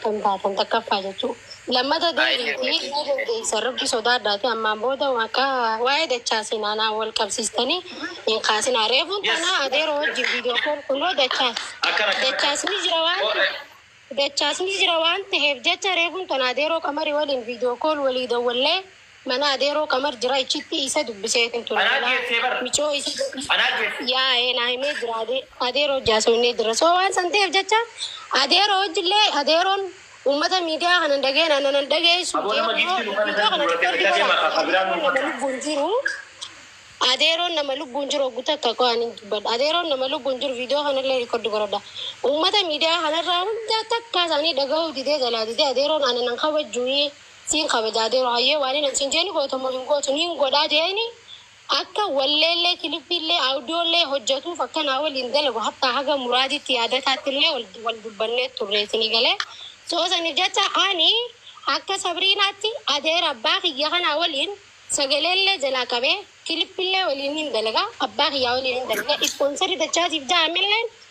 kan taatan takkaffaa jechuu lammata deebiitii ni dandeessa rabbi sodaadhaati ammaan booda akka waa'ee dachaa sinaanaa wal qabsiistanii hin kaasinaa reefuun tanaa adeeroo wajjin viidiyoo kool kunoo dachaas dachaasni jira waan dachaasni jira waan ta'eef jecha reefuun tanaa adeeroo qamarii waliin viidiyoo kool walii dawwallee Mana adeeroo qamar jira ichitti isa dubbiseetin ture Anaa malaa geessee bar. micoo isa jedhi Anaa geesse. yaa'ee naa himee jira adee adeeroo wajji haasofnee jirra so waan san ta'eef jecha adeeroo wajji illee adeeroon ummata miidiyaa kanan dhaga'een ana nan dhageessu Aboo nama giiftii nu kana viidiyoo kana kan xiqqoo itti duratee fudhi bitaa deemaa godha kan biraa adeeroon nama lubbuun jiru adeeroon nama lubbuun jiru oggu takka koo ani dubbadha adeeroon nama lubbuun jiru viidiyoo kana illee riikordi godhadha ummata miidiyaa kanarraa hunda takkaa isaanii dhaga'uu didee jalaa didee adeeroon ana nan kabajjuu Siin kabajaa Dero hayyee waanin an siin jeeni goota moo hin gootu niin godhaa jeeni akka walleellee kilippiillee audiollee hojjatuuf akka naa waliin dalagu hattaa haga muraadiitti yaadataattillee wal wal dubbannee turree sini galee so saniif jecha ani akka sabriinaatti adeera abbaa kiyya kanaa waliin sagaleellee jalaa qabee kilippillee waliin niin dalaga abbaa kiyyaa waliin niin dalaga ispoonsarri dachaatiif ja'a milleen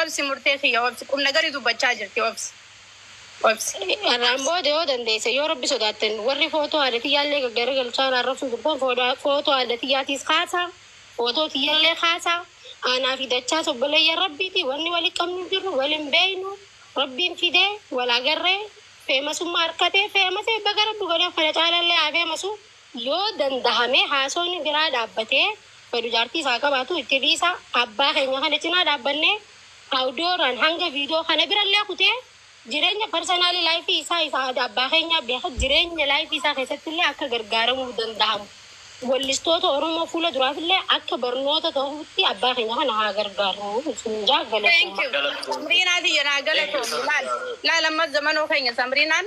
Obsi murtee kiyya obsi. Qumnagari dubbachaa jirti obsi obsi. Har'aan booda yoo dandeesse yoo rabbi sodaattan warri footoo haadha tiyyaallee gaggaragalchaa na arrabsuu jirtan foodaa footoo haadha tiyyaatiis kaasaa footoo tiyyallee kaasaa aanaa fi dachaas obboleeyyan rabbiiti wanni wali qabnu hin jirru wal hin beeynu rabbiin fidee wal agarree feemasummaa arkatee feemasee baga rabbi godheef kana caalaallee haa feemasuu Yoo dandahame haasofni biraa dhaabbatee fedhu jaartii isaa haa qabaatu itti dhiisaa abbaa keenya kana cinaa dhaabbannee Awudooraan hanga viidiyoo kana birallee kutee jireenya personal life isaa isa aadaa abbaa keenyaa beeka jireenya life isaa keessattillee akka gargaaramuu dandahamu wallistoota Oromoo fuula duraafillee akka barnoota tahutti abbaa keenya kana haa gargaarru isiniin jaha Thank galatoomaa. you. Samriinaa tiyya naa galatoomi. Laal laal amma zamanoo keenya samriinaan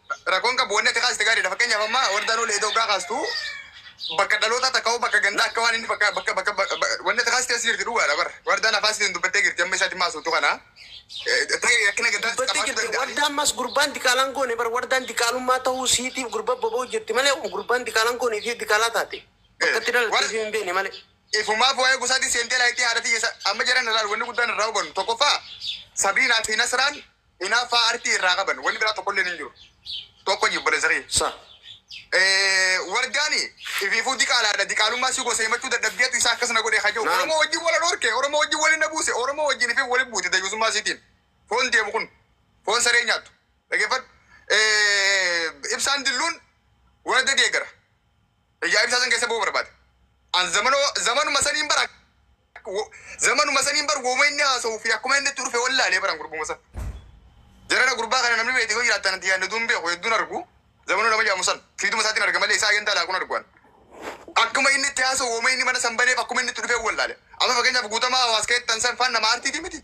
Rakkoon qabu wanni ati kaaste gaariidha. Fakkeenyaaf amma wardaa noolee edoo gaa kaastu bakka dhalootaa takka hoo bakka gandaa akka waan inni bakka bakka bakka ba- ba- wanni ati kaaste as jirti dhugaadha bar. Wardaan afaan sitiin dubbattee jirti amma isaatti maasoftu kana. Eh, Ta'e rakkina gandaa dubbattee qabaachuu jirti. danda'a. Wardaa ammas gurbaan diqaalaan goone bar wardaan diqaalummaa ta'uu siitiif gurba boba'u jirti malee gurbaan diqaalaan goone ishee diqaalaa taate. Bakka itti dhalatte War- ishee hin beekne malee. Ifumaaf waa'ee gosaatiin seentee laayittii haadha tiyya sa- amma jedhan irraa wanni guddaan irraa hubannu tokkoffaa Sabriinaa fi Nasraan Hinaaffaa artii irraa qaban wanni biraa tokkolleen hin jiru. Tokko ji obboleessa kiyya. Sa. Eh, Wardaani ifiifuu diqaalaadha. Diqaalummaa si gosa himachuu dadhabdeetu isaa akkas na godhe haa jedhu. Naam. Oromoo wajjin wal dhorke, Oromoo wajjin wal na buuse, Oromoo wajjin ifiif wal buute dayyuusummaa isiitiin. Foon deemu kun foon saree nyaattu. Dhaggeeffadhu. Eh, Ibsaan dilluun warda deegara. Ijaa ibsaa san keessa ba'uu barbaade. An zamanoo zamanuma saniin bara wo- zamanuma saniin bar wooma inni haasa'uu fi akkuma inni itti dhufe wallaalee baran gurbuma san. Jarana gurbaa kana namni beekte yoo jiraattan ati yaadne duun beeku hedduun argu. Zamanoo nama jedhamu san fiiduma isaatiin arga malee isaa agendaa laaquun arguan. Akkuma inni itti haasa'u wooma inni mana san baneef akkuma inni itti dhufe wallaale. Amma fakkeenyaaf guutamaa hawaas keettan san faan nama aartiiti miti.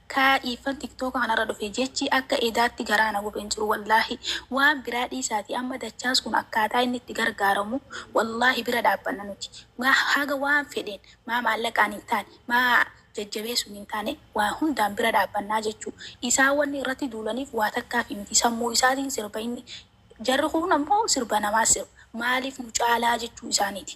Kaa iiffan tiktoka kanarra dhufe jechi akka edaatti garaa na gube hin jiru wallaahi waan biraa dhiisaati amma dachaas kun akkaataa inni itti gargaaramu wallaahi bira dhaabbanna nuti maa haga waan fedheen maa maallaqaan hin taane maa jajjabeessuun hin taane waa hundaan bira dhaabbannaa jechu isaa wanni irratti duulaniif waa takkaafi miti sammuu isaatiin sirba inni jarri kuun ammoo sirba namaas sirba maaliif nu caalaa jechuu isaaniiti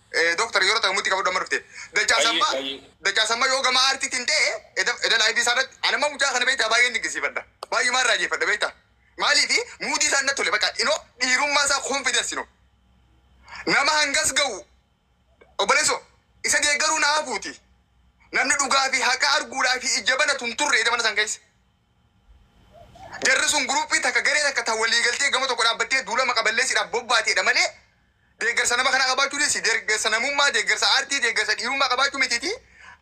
Eh, Doktar yeroo ta'e mutti qabadhu amma dhufte. Dachaa Ayyee, sammaa ayyee. dachaa sammaa yoo gama aartiitiin ta'e eda eda laayivii isaa irratti ani amma mucaa kana beektaa baay'een dinqisiifadha. Baay'ee maal raajeffadha beektaa. Maaliifi muudii isaa natti tole bakka inoo dhiirummaa isaa confidence inoo. Nama hangas ga'u obboleesso isa deeggaruu na hafuuti. Namni dhugaa fi haqa arguudhaa fi ija banatu hin turre eda mana san keessa. Jarri sun guruppii takka garee takka ta walii galtee gama tokko dhaabbattee duulama qaballeessiidhaaf bobbaateedha malee Deeggarsa nama kanaa qabaachuu dhiisi, deeggarsa namummaa, deeggarsa aartii, deeggarsa dhiirummaa qabaachuu mitiitii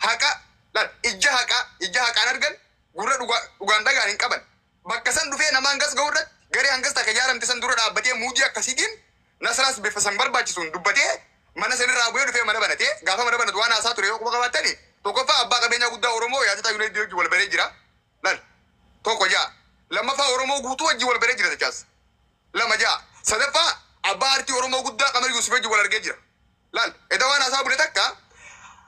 haqa laal, ijja haqaa, ijja haqaan argan, gurra dhugaa, dhugaan dhaga'an hin qaban. Bakka san dhufee nama hangas ga'u irratti garee hangas takka ijaaramte san dura dhaabbatee muudii akkasiitiin Nasraas bifa san barbaachisuun dubbatee mana san irraa bu'ee dhufee mana banate. Gaafa mana banatu waan haasaa ture yoo quba qabaattani, tokkoffaa abbaa qabeenyaa guddaa Oromoo Yaadataa Yunaydii wajji wal baree jira. Lal. 1 6. 2ffaa Oromoo guutuu wajjin wal baree jira Dachaas. 2 6. 3ffaa Abbaa Aartii Oromoo guddaa Qamar Yuusuf wajjin wal argee jira. Lal. Edawaan haasaa bule takka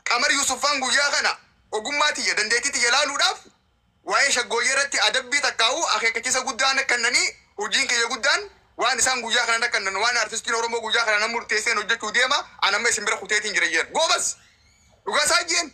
Qamar Yuusuf faan guyyaa kana ogummaa tiyya, dandeettii tiyya laaluudhaaf waa'ee shaggooyyee irratti adabbii takkaahuu akeekkachiisa guddaa na kennanii hujiin kiyya guddaan waan isaan guyyaa kana na kennan waan artistiin Oromoo guyyaa kana na murteesseen hojjachuu deema an amma isin bira kuteetiin jira jeen. Goobaz! Dhugaa isaa jeen!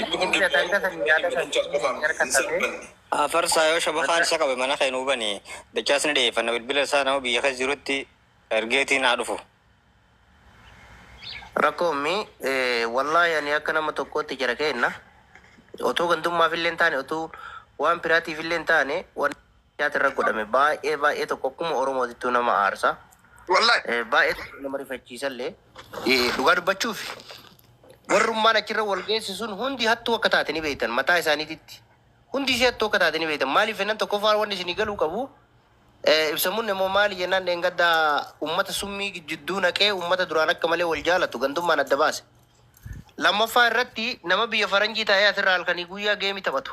Inni kun qindaa'ina fi yaada kan cimsuuf erga ta'ee. Afarsaa yoo shabakaan isa qabe mana kee nuu bani dachaas ni dhiyeeffanna bilbila isaa nama biyya keessa jirutti ergeetiin haa dhufu. Rakkoo ummi wallahi ani akka nama tokkootti jara keenna otoo gandummaafillee hin taane otuu waan biraatiifillee hin taane wan. Nyaati irra godhame baay'ee baay'ee tokko akkuma Oromootittuu nama aarsa. Wallahi. Eh, Baay'ee tokko nama rifachiisallee. Eh, Dhugaa dubbachuuf warrummaan achirra wal geessu sun hundi hattuu akka taate ni beektan mataa isaaniititti. Hundi ishee hattuu akka taate ni beektan. Maaliif jennaan tokkoffaa wanni isinii galuu qabu eh, ibsamuun immoo maali jennaan dheengaddaa uummata summii jidduu naqee uummata duraan akka malee wal jaalatu gandummaan adda baase. Lammaffaa irratti nama biyya faranjii taa'ee asirraa halkanii guyyaa geemii taphatu.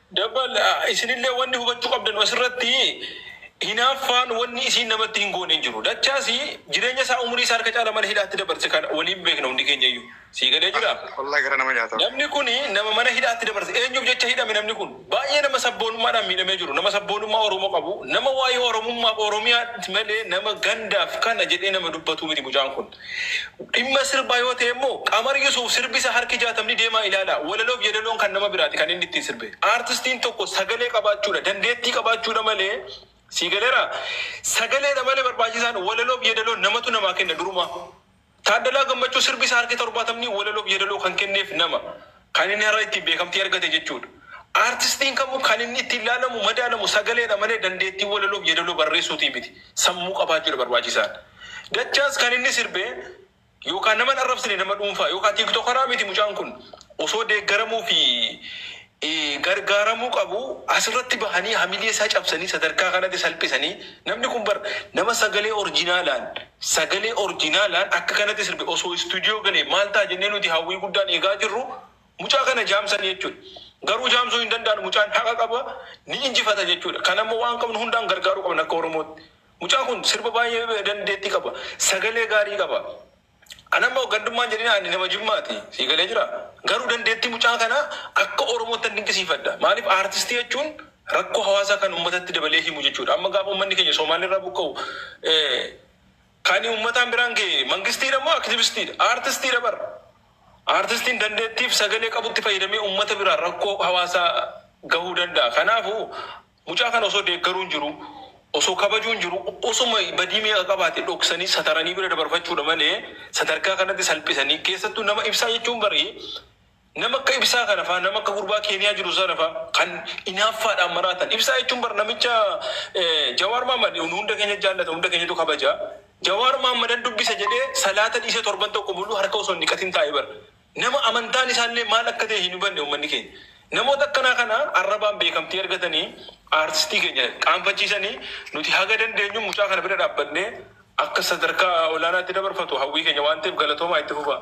Dabal, Isinillee wanni hubachuu qabdanu asirratti, hinaaffaan wanni isiin namatti hin goone hin jiru. Dachaas jireenya isaa umurii isaa harka caala mana hidhaatti dabarse kan waliin beekna hundi keenyayyuu. Sii galee jira? Wallaahi garaa nama nyaata. Namni kun nama mana hidhaatti dabarse. Eenyuuf jecha hidhame namni kun? Baay'ee nama sabboonummaadhaan miidhamee jiru, nama sabboonummaa Oromoo qabu, nama waa'ee Oromummaaf, Oromiyaatti malee nama gandaaf kana jedhee nama dubbatuu miti mucaan kun. Dhimma sirbaa yoo ta'e immoo Qamar Yusuuf sirbi isaa harki jaatamni deemaa ilaalaa. Walaloof yedaloon kan nama biraati kan inni ittiin sirbe. Aartistiin tokko sagalee qabaachuudha, dandeettii qabaachuudha malee sii galeeraa? Sagaleedha malee barbaachisaan walaloof yedaloo namatu namaa kenna durumaa. Taaddalaa Gammachuu sirbi isaa harki torbaatamni walaloof yedaloo kan kenneef nama. Kan inni har'a ittiin beekamtii argate jechuudha. Aartistiin kamuu kan inni ittiin ilaalamu, madaalamu sagaleedha malee dandeettii walaloof yeedaloo barreessuutii miti. Sammuu qabaachuudha barbaachisaan. Dachaas kan inni sirbe yookaa nama hin arrabsine nama dhuunfaa yookaa tiiktokaraa miti mucaan kun. Osoo deeggaramuu fi gargaaramuu qabu asirratti bahanii hamilee isaa cabsanii sadarkaa kanatti salphisanii namni kun bar nama sagalee orjinaalaan Sagalee orjinaalaan akka kanatti sirbe osoo istuudiyoo galee maal ta'a jennee nuti hawwii guddaan eegaa jirru mucaa kana jaamsan jechuudha. Garuu jaamsuu hin danda'an mucaan haqa qaba ni injifata jechuudha. Kanammoo waan qabnu hundaan gargaaruu qabna akka Oromootti. Mucaan kun sirba baay'ee dandeettii qaba. Sagalee gaarii qaba. Anammoo gandummaan jedhina ani nama jimmaati. Sii galee jiraa? Garuu dandeettii mucaa kanaa akka Oromootti nan dinqisiifadha. Maaliif aartistii jechuun rakkoo hawaasaa kan ummatatti dabalee himu jechuudha. Amma gaafa ummanni keenya Soomaalirraa buqqa'u kan ummataan biraan ga'e mangistiidha moo aktivistiidha? Aartistiidha bar. Aartistiin dandeettiif sagalee qabutti fayyadamee ummata biraan rakkoo hawaasaa gahuu danda'a. Kanaafuu mucaa kana osoo deeggaruun jiru osoo kabajuun jiru osuma badii meeqa qabaate dhoksanii sataranii bira dabarfachuudha malee sadarkaa kanatti salphisanii keessattuu nama ibsaa jechuun barii Nama akka Ibsaa kana faa, nama akka gurbaa Keeniyaa jiru sana faa kan inaaffaadhaan maraatan. Ibsaa jechuun bar namicha Jawaar Mahaammad nu hunda keenya jaallata, hunda keenyatu kabaja. Jawaar Mahaammadan dubbisa jedhee salaata dhiisee torban tokko muluu harka osoo hin dhiqatin taa'e bar. Nama amantaan isaa illee maal akka ta'e hin hubanne ummanni keenya. Namoota akkanaa kana arrabaan beekamtii argatanii aartistii keenya qaanfachiisanii nuti haga dandeenyuun mucaa kana bira dhaabbannee akka sadarkaa olaanaatti dabarfatu hawwii keenya waan ta'eef galatoomaa itti fufaa.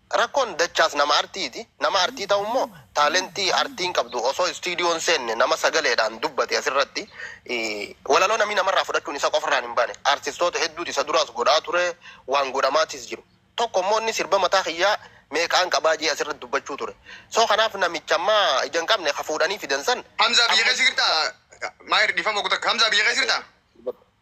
Rakkoon dachaas nama artiiti. Nama artii ta'u immoo taalentii artiin qabdu osoo istiidiyoo hin seenne nama sagaleedhaan dubbate asirratti walaloo namni namarraa fudhachuun isa qofarraan hin baane. Artistoota hedduutu isa duraas godhaa ture, waan godhamaatis jiru. Tokko immoo inni sirba mataa kiyyaa meeqaan qabaa jedhee asirratti dubbachuu ture. So kanaaf namicha amma ija hin qabne ka fuudhanii fidan san Hamzaa biyya keessa jirtaa? Maahir dhiifama goota akka Hamzaa biyya keessa jirtaa?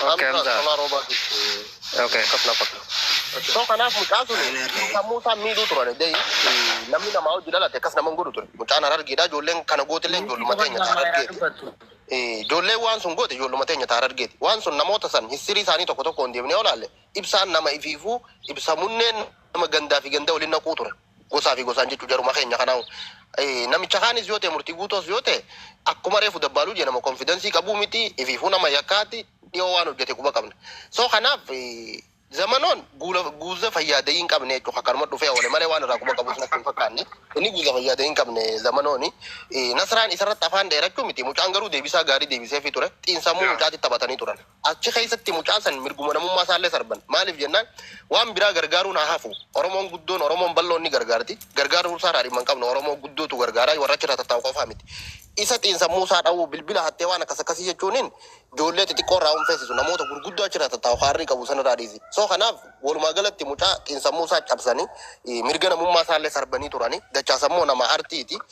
Okay, I'm done. Sola roba di. Okay. Kapla pakla. So kanaaf mucaa sun sammuu isaa miidhuu turan dee namni namaa hojii dhalate akkas nama hin godhu ture. Mucaan harargeedha ijoolleen kana gootillee ijoolluma teenya ta'a harargeeti. Eh, Ijoolleen waan sun goote ijoolluma teenya ta'a harargeeti. Waan sun namoota san hissirii isaanii tokko tokko hin deemnee olaalle ibsaan nama ifiifuu ibsa munneen nama gandaa fi ganda waliin naquu ture. Gosaa fi gosaan jechuu jaruma keenya kanaa namicha kaanis yoo ta'e murtii guutoos yoo ta'e akkuma reefu dabbaaluu jee nama konfidensii qabuu miti ifiifuu nama yakkaati dhiyoo waan hojjete quba qabna. So kanaaf eh, zamanoon guula guuza fayyaadee hin qabne jechuun akkanuma dhufee oole malee waan irraa quba qabus natti hin fakkaanne. Inni guuza fayyaadee hin qabne zamanooni. Eh, Nasraan isarratti afaan dheerachuu miti mucaan garuu deebisaa gaarii deebiseefii ture. Xiinsammuu mucaatti taphatanii turan. Achi keessatti mucaa san mirguma namummaa isaallee sarban. Maaliif jennaan waan biraa gargaaruun haa hafu Oromoon guddoon, Oromoon bal'oon ni gargaarti. Gargaaruu isaarraa dhimma hin qabnu. Oromoo guddootu gargaara, warra achirraa tattaa'u qofaa miti. Isa xiinsammuu isaa dhawuu, bilbila hattee waan akkas akkasii jechuuniin ijoollee xixiqqoo irraa hin feesisu. Namoota gurguddoo achirraa tattaa'u kaarrii qabu sanirraa dhiisi. So kanaaf walumaa galatti mucaa xiinsammuu isaa cabsanii mirga namummaa isaallee sarbanii turani. Dachaasammoo nama artiiti.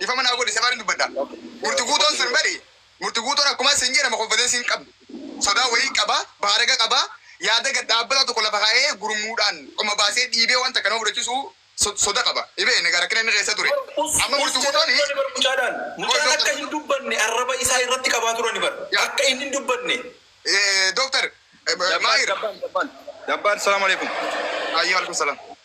Dhifama naa godhi safaarin dubbadha. Murti guutoon sun bari murti guutoon akkumaa sin jee nama konfidensii hin qabne. Sodaa wayii qaba, baaraga qaba, yaada gad dhaabbataa tokko lafa kaa'ee gurmuudhaan qoma baasee dhiibee waan takka nama fudhachisuu soda qaba. Ni beekna egaa rakkina inni keessa ture. Amma murti guutoon. Us jedhani turani bar mucaadhaan. Mucaan akka hin dubbanne arraba isaa irratti qabaa turani bar. Akka inni hin dubbanne. Doktar Maahir. Jabbaar Jabbaar Jabbaar Salaam Aleekum. Hayyee Waalaikum Salaam.